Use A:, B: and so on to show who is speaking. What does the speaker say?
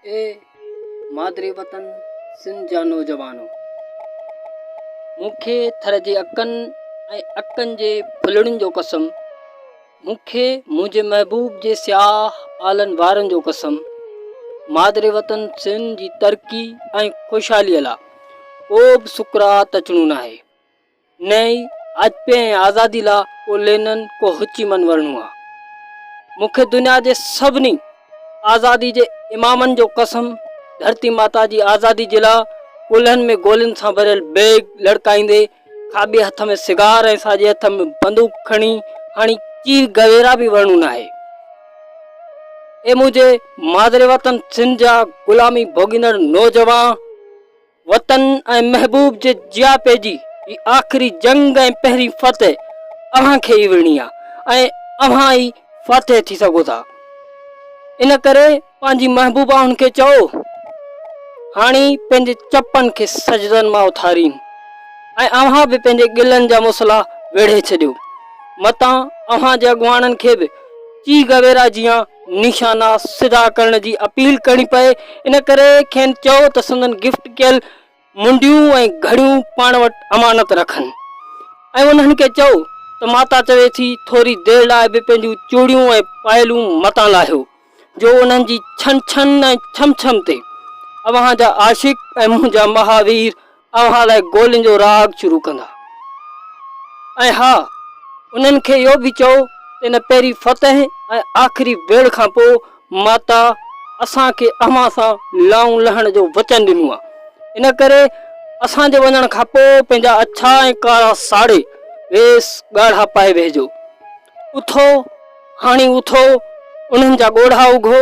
A: اي مادري وطن سنڌ جا نوجوانو! مون کي ٿر جي اڪن ۽ اڪن جي ڦلڙين جو قسم، مون کي منهنجي محبوب جي سياهه آلن وارن جو قسم، مادري وطن سنڌ جي ترقي ۽ خوشحاليء لا ڪو به سڪرات اچڻو ناهي. نه ئي اجپي ۽ آزادي لا ڪو لينن ڪو هوچي من ورنو آ. مون کي دنيا جي سڀني آزادي جي امامن جو قسم ڌرتي ماتا جي آزادي جي لا ڪلهن ۾ گولين سان ڀريل بيگ لڙڪائيندي کاٻي هٿ ۾ سگار ۽ ساڄي هٿ ۾ بندوق کڻي هڻي چي گويرا به ورنو ناهي. اي منهنجي مادري وطن سنڌ جا غلامي ڀوڳيندڙ نوجوان! وطن ۽ محبوب جي جياپي جي هي آخري جنگ ۽ پهرين فتح اوهان کي ئي وڙهڻي آ ۽ اوهان ئي فاتح ٿي سگهو ٿا ان ڪري پنهنجي محبوبائن کي چئو هاڻي پنهنجي چپن کي سجدن مان اٿارين ۽ اوهان به پنهنجي گلن جا مصلا ويڙهي ڇڏيو متان اوهان جي اڳواڻن کي به چيغ ويرا جيان نشانا سڌا ڪرڻ جي اپيل ڪرڻي پئي ان ڪري کين چئو ته سندن گفٽ ڪيل منڊيون ۽ گهڙيون پاڻ وٽ امانت رکن ۽ انهن کي چئو ته ماتا چوي ٿي ٿوري دير لاء به پنهنجون چوڙيون ۽ پائلون متان لاهيو جو انهن جي ڇن ڇن ۽ ڇم ڇم تي اوهان جا عاشق ۽ منهنجا مهاوير اوهان لاء گولين جو راڳ شروع ڪندا. ۽ ها، انهن کي اهو به چئو ته ان پهرين فتح ۽ آخري ويڙهه کان پوء ماتا اسان کي اوهان سان لائون لهڻ جو وچن ڏنو آهي. ان ڪري اسان جي وڃڻ کان پوء پنهنجا اڇا ۽ ڪارا ساڙي ويس ڳاڙها پائي ويهجو. اٿو، هاڻي اٿو، انهن جا ڳوڙها اگهو.